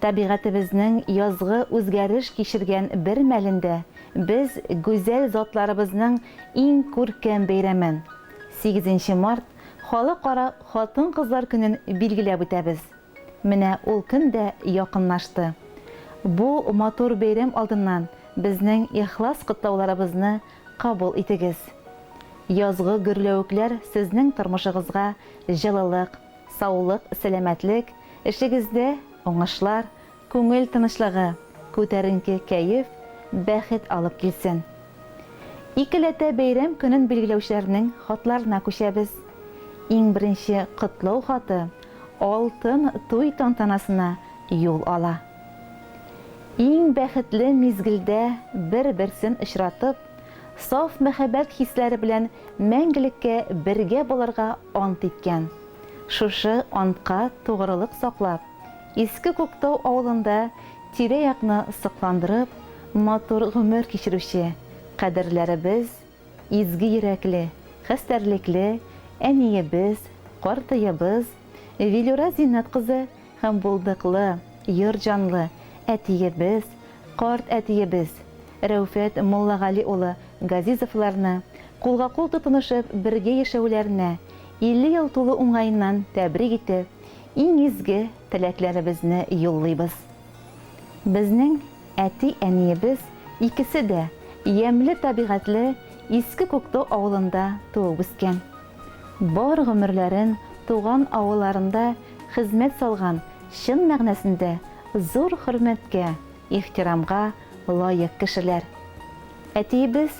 Табигатебезнең язгы үзгәреш кичергән бер мәлендә без гүзәл затларыбызның иң күркәм бәйрәмен, сигезенче март, Халыкара хатын-кызлар көнен билгеләп үтәбез. Менә ул көн дә якынлашты. Бу матур бәйрәм алдыннан безнең ихлас котлауларыбызны кабул итегез. Язгы гөрләвекләр сезнең тормышыгызга җылылык, Саулык, сәламәтлек, эшегездә уңышлар, күңел тынычлыгы, күтәренке кәеф, бәхет алып килсен! Икеләтә бәйрәм көнен билгеләүчеләрнең хатларына күчәбез. Иң беренче котлау хаты алтын туй тантанасына юл ала. Иң бәхетле мизгелдә бер-берсен очратып, саф мәхәббәт хисләре белән мәңгелеккә бергә булырга ант иткән. Шушы антка тугрылык саклап, Иске Күктау авылында тирә-якны сокландырып, матур гомер кичерүче кадерләребез, изге йөрәкле, хәстәрлекле әниебез, картыебыз Вилюра Зиннәт кызы Һәм булдыклы, йорт җанлы әтиебез, карт әтиебез Рәүфәт Муллагали улы Газизовларны кулга-кул тотынышып бергә яшәүләренә 50 ел тулу уңаеннан тәбрик итеп, иң изге теләкләребезне юллыйбыз. Безнең әти-әниебез икесе дә ямьле табигатьле Иске Күктау авылында туып-үскән. Бар гомерләрен туган авылларында хезмәт салган чын мәгънәсендә зур хөрмәткә, ихтирамга лаек кешеләр. Әтиебез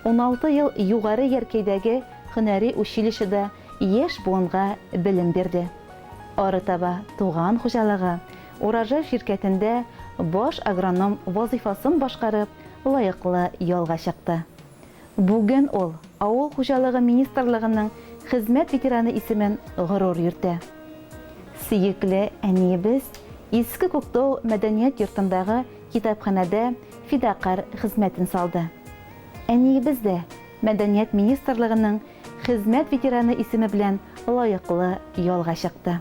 уналты ел Югары Яркәйдәге һөнәри училищеда яшь буынга белем бирде. Арытаба туган хуҗалыгы Урожай ширкәтендә баш агроном вазыйфасын башкарып, лаеклы ялга чыкты. Бүген ул Авыл хуҗалыгы министрлыгының хезмәт ветераны исемен горур йөртә. Сөекле әниебез Иске Күктау мәдәният йортындагы китапханәдә фидакарь хезмәтен салды. Әниебез дә мәдәният министрлыгының хезмәт ветераны исеме белән лаеклы ялга чыкты.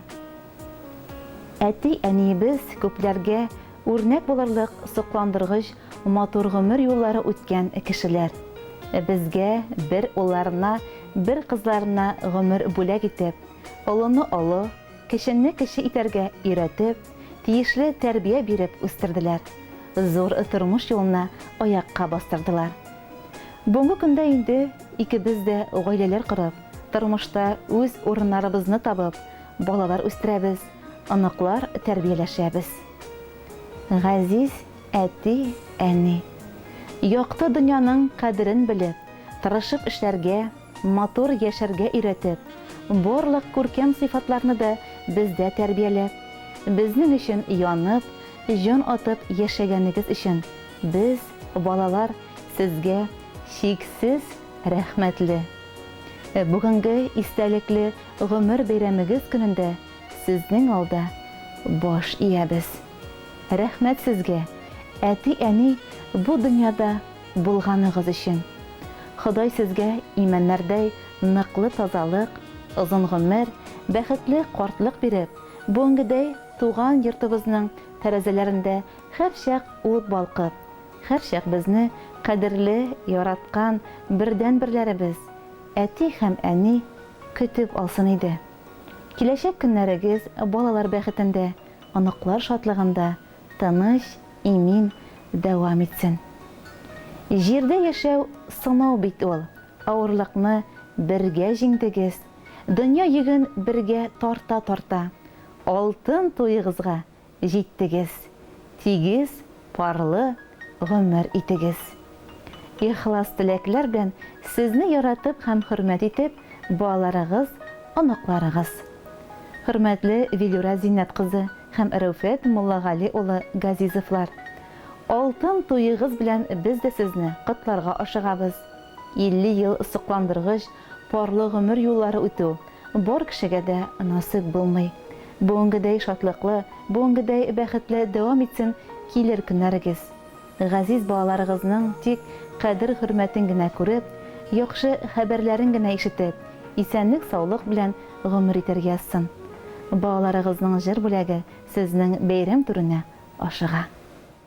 Әти-әниебез күпләргә Үрнәк булырлык сокландыргыч матур гомер юллары үткән кешеләр. Безгә, бер улларына, бер кызларына гомер бүләк итеп, олыны олы, кечене кече итәргә өйрәтеп, тиешле тәрбия биреп үстерделәр, зур тормыш юлына аякка бастырдылар. Бүгенге көндә инде икебез дә гаиләләр корып, тормышта үз урыннарыбызны табып, балалар үстерәбез. оныклар тәрбияләшәбез. Газиз әти, әни, якты дөньяның кадерен белеп, тырышып эшләргә, матур яшәргә өйрәтеп, барлык күркәм сыйфатларны да бездә тәрбияләп, безнең өчен янып, җан атып яшәгәнегез өчен без, балалар, сезгә чиксез рәхмәтле. Бүгенге истәлекле гомер бәйрәмегез көнендә сезнең алда баш иябез. Рәхмәт сезгә, әти-әни бу дөньяда булганыгыз өчен. Ходай сезгә имәннәрдәй ныклы тазалык, озын гомер, бәхетле картлык биреп, бүгенгедәй туган йортыбызның тәрәзәләрендә һәрчак ут балкып, һәрчак безне кадерле, яраткан бердәнберләребез, Әти һәм әни көтеп алсын иде. Киләчәк көннәрегез балалар бәхетендә, оныклар шатлыгында тыныч, имин дәвам итсен. Җирдә яшәү сынау бит ул, авырлыкны бергә җиңдегез, дөнья йөген бергә тарта-тарта, алтын туегызга җиттегез, тигез, парлы гомер итегез. Ихлас теләкләр белән сезне яратып һәм хөрмәт итеп балаларыгыз, оныкларыгыз. Хөрмәтле Вилюра Зиннәт кызы һәм Рәүфәт Муллагали улы Газизовлар! Алтын туегыз белән без дә сезне котларга ашыгабыз. 50 ел сокландыргыч Парлы гомер юллары үтү бар кешегә дә насыйп булмый. Бүгенгедәй шатлыклы, бүгенгедәй бәхетле дәвам итсен килер көннәрегез. Газиз балаларыгызның тик кадер-хөрмәтен генә күреп, яхшы хәбәрләрен генә ишетеп, исәнлек-саулык белән гомер итәр язсын. Балаларыгызның җыр бүләге сезнең бәйрәм түренә ашыга.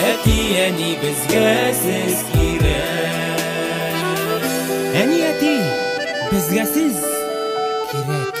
Әти, әни, безгә сез кирәк. Әни, әти, безгә сез кирәк.